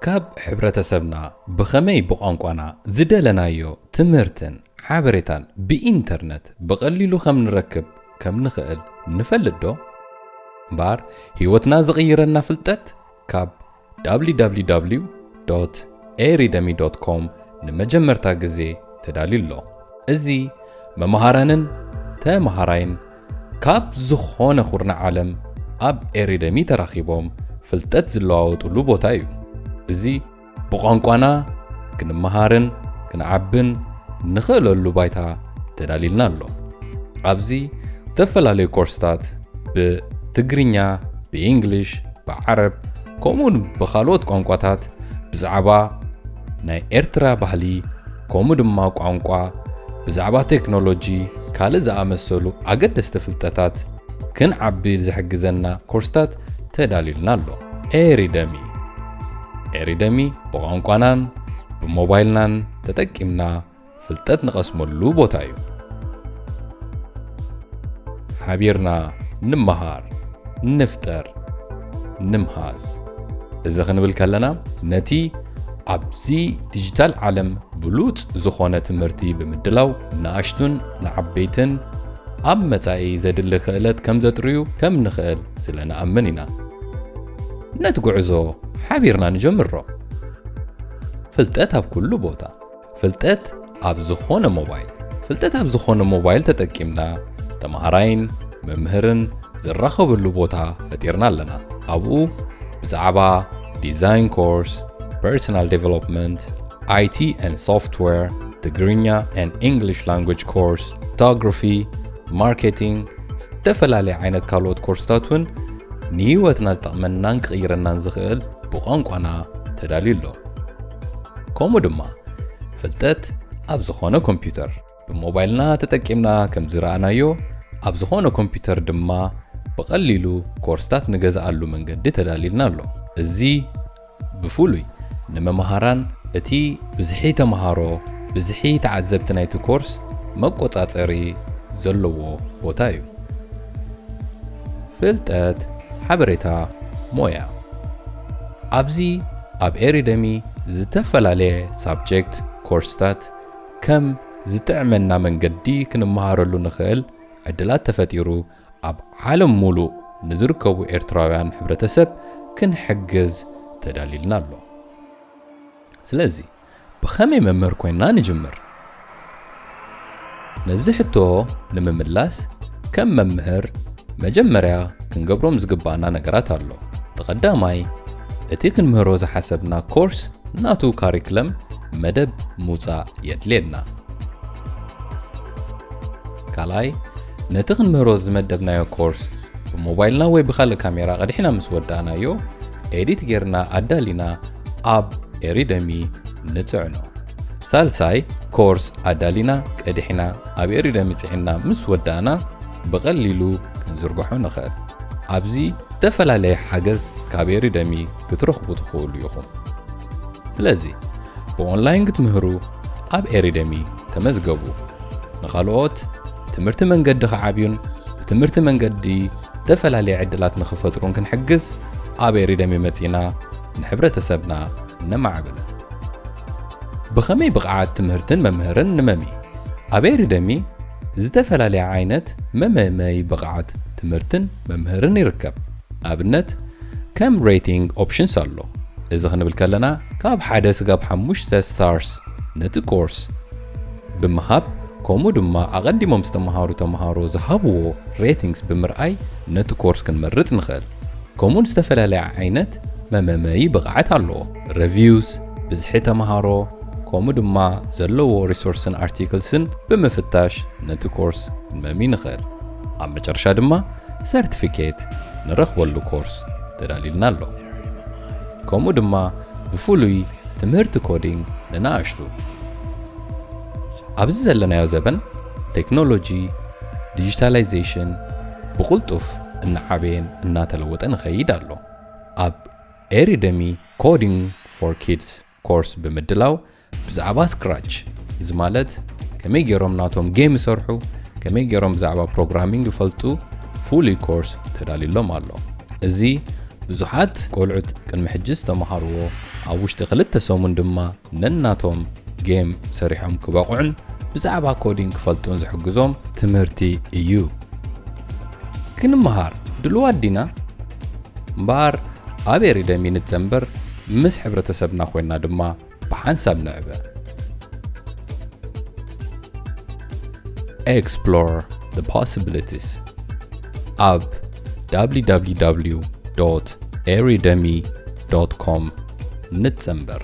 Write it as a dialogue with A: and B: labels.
A: ካብ ሕብረተሰብና ብኸመይ ብቋንቋና ዝደለናዮ ትምህርትን ሓበሬታን ብኢንተርነት ብቐሊሉ ከም ንረክብ ከም ንኽእል ንፈልጥዶ? እምበኣር ህይወትና ዝቕይረልና ፍልጠት ካብ www.eridemi.com ንመጀመርታ ግዜ ተዳልዩ ኣሎ። እዚ መምሃራንን ተምሃራይን ካብ ዝኾነ ኩርናዕ ዓለም ኣብ ኤሪደሚ ተራኺቦም ፍልጠት ዝለዋወጥሉ ቦታ እዩ። እዚ ብቋንቋና ክንመሃርን ክንዓብን ንኽእለሉ ባይታ ተዳሊልና ኣሎ። ኣብዚ ዝተፈላለዩ ኮርስታት ብትግርኛ፣ ብኢንግሊሽ፣ ብዓረብ ከምኡውን ብኻልኦት ቋንቋታት ብዛዕባ ናይ ኤርትራ ባህሊ፣ ከምኡ ድማ ቋንቋ፣ ብዛዕባ ቴክኖሎጂ፣ ካልእ ዝኣመሰሉ ኣገደስቲ ፍልጠታት ክንዓቢ ዝሕግዘና ኮርስታት ተዳልዩልና ኣሎ። ኤሪደሚ ኤሪደሚ ብቋንቋናን ብሞባይልናን ተጠቂምና ፍልጠት ንቐስመሉ ቦታ እዩ። ሓቢርና ንመሃር፣ ንፍጠር፣ ንምሃዝ እዚ ክንብል ከለና ነቲ ኣብዚ ዲጂታል ዓለም ብሉጽ ዝኾነ ትምህርቲ ብምድላው ንኣሽቱን ንዓበይትን ኣብ መጻኢ ዘድሊ ክእለት ከም ዘጥርዩ ከም ንኽእል ስለ ንኣምን ኢና ነቲ ጉዕዞ ሓቢርና ንጀምሮ ፍልጠት ኣብ ኩሉ ቦታ ፍልጠት ኣብ ዝኾነ ሞባይል ፍልጠት ኣብ ዝኾነ ሞባይል ተጠቂምና ተምሃራይን መምህርን ዝራኸበሉ ቦታ ፈጢርና ኣለና ኣብኡ ብዛዕባ ዲዛይን ኮርስ ፐርሶናል ዴቨሎፕመንት ኣይቲ ን ሶፍትዌር ትግርኛ ን እንግሊሽ ላንጉጅ ኮርስ ፎቶግራፊ ማርኬቲንግ ዝተፈላለየ ዓይነት ካልኦት ኮርስታት እውን ንህይወትና ዝጠቕመናን ክቕይረናን ዝኽእል ብቋንቋና ተዳልዩ ኣሎ ከምኡ ድማ ፍልጠት ኣብ ዝኾነ ኮምፒውተር ብሞባይልና ተጠቂምና ከም ዝረኣናዮ ኣብ ዝኾነ ኮምፒውተር ድማ ብቐሊሉ ኮርስታት ንገዝኣሉ መንገዲ ተዳሊልና ኣሎ እዚ ብፍሉይ ንመምሃራን እቲ ብዝሒ ተምሃሮ ብዝሒ ተዓዘብቲ ናይቲ ኮርስ መቆፃፀሪ ዘለዎ ቦታ እዩ ፍልጠት ሓበሬታ ሞያ ኣብዚ ኣብ ኤሪደሚ ዝተፈላለየ ሳብጀክት፣ ኮርስታት፣ ከም ዝጥዕመና መንገዲ ክንመሃረሉ ንኽእል ዕድላት ተፈጢሩ ኣብ ዓለም ሙሉእ ንዝርከቡ ኤርትራውያን ሕብረተሰብ ክንሕግዝ ተዳሊልና ኣሎ። ስለዚ። ብኸመይ መምህር ኮይንና ንጅምር? ነዚ ሕቶ ንምምላስ ከም መምህር መጀመርያ ክንገብሮም ዝግብኣና ነገራት ኣሎ። እቲ ቀዳማይ እቲ ክንምህሮ ዝሓሰብና ኮርስ ናቱ ካሪክለም፣ መደብ፣ ምውጻእ የድልየና። ካልኣይ ነቲ ክንምህሮ ዝመደብናዮ ኮርስ ብሞባይልና ወይ ብኻልእ ካሜራ ቀዲሕና ምስ ወዳእናዮ ኤዲት ጌርና ኣዳሊና ኣብ ኤሪደሚ ንጽዕኖ ሳልሳይ ኮርስ ኣዳሊና ቀዲሕና ኣብ ኤሪደሚ ጽዕና ምስ ወዳእና ብቐሊሉ ክንዝርግሖ ንኽእል ኣብዚ ዝተፈላለየ ሓገዝ ካብ ኤሪደሚ ክትረኽቡ ትኽእሉ ኢኹም ስለዚ ብኦንላይን ክትምህሩ ኣብ ኤሪደሚ ተመዝገቡ ንኻልኦት ትምህርቲ መንገዲ ክዓብዩን ብትምህርቲ መንገዲ ዝተፈላለየ ዕድላት ንኽፈጥሩን ክንሕግዝ ኣብ ኤሪደሚ መጺእና ንሕብረተሰብና ነማዕብል። ብኸመይ ብቕዓት ትምህርትን መምህርን ንመሚ? ኣብ ኤሪደሚ ዝተፈላለየ ዓይነት መመመይ ብቕዓት ትምህርትን መምህርን ይርከብ። ኣብነት ከም ሬቲንግ ኦፕሽንስ ኣሎ። እዚ ክንብል ከለና ካብ ሓደ ስጋብ ሓሙሽተ ስታርስ ነቲ ኮርስ ብምሃብ ከምኡ ድማ ኣቐዲሞም ዝተምሃሩ ተምሃሮ ዝሃብዎ ሬቲንግስ ብምርኣይ ነቲ ኮርስ ክንመርጽ ንኽእል። ከምኡውን ዝተፈላለየ ዓይነት መመመዪ ብቕዓት ኣለዎ፣ Reviews፣ ብዝሒ ተመሃሮ፣ ከምኡ ድማ ዘለዎ ሪሶርስን ኣርቲክልስን ብምፍታሽ ነቲ ኮርስ ክንመሚ ንኽእል። ኣብ መጨረሻ ድማ ሰርቲፊኬት ንረኽበሉ ኮርስ ተዳልዩልና ኣሎ። ከምኡ ድማ ብፍሉይ ትምህርቲ ኮዲንግ ንናእሽቱ ኣብዚ ዘለናዮ ዘበን ቴክኖሎጂ፣ ዲጂታላይዜሽን ብቕልጡፍ እናዓበየን እናተለወጠን ይኸይድ ኣሎ። ኣብ ኤሪደሚ ኮዲንግ ፎር ኪድስ ኮርስ ብምድላው ብዛዕባ ስክራች እዚ ማለት ከመይ ገይሮም ናቶም ጌም ይሰርሑ፣ ከመይ ገይሮም ብዛዕባ ፕሮግራሚንግ ይፈልጡ ፍሉይ ኮርስ ተዳልዩሎም ኣሎ። እዚ ብዙሓት ቆልዑት ቅድሚ ሕጂ ዝተምሃርዎ ኣብ ውሽጢ ክልተ ሰሙን ድማ ነናቶም ጌም ሰሪሖም ክበቕዑን ብዛዕባ ኮዲንግ ክፈልጡን ዝሕግዞም ትምህርቲ እዩ። ክንመሃር ድልዋት ዲና? እምበኣር ኣብ ኤሪደሚ ንጸንበር፣ ምስ ሕብረተሰብና ኮይና ድማ ብሓንሳብ ንዕበ። Explore the possibilities ኣብ www.eridemi.com ዶት ኮም ንጽንብር።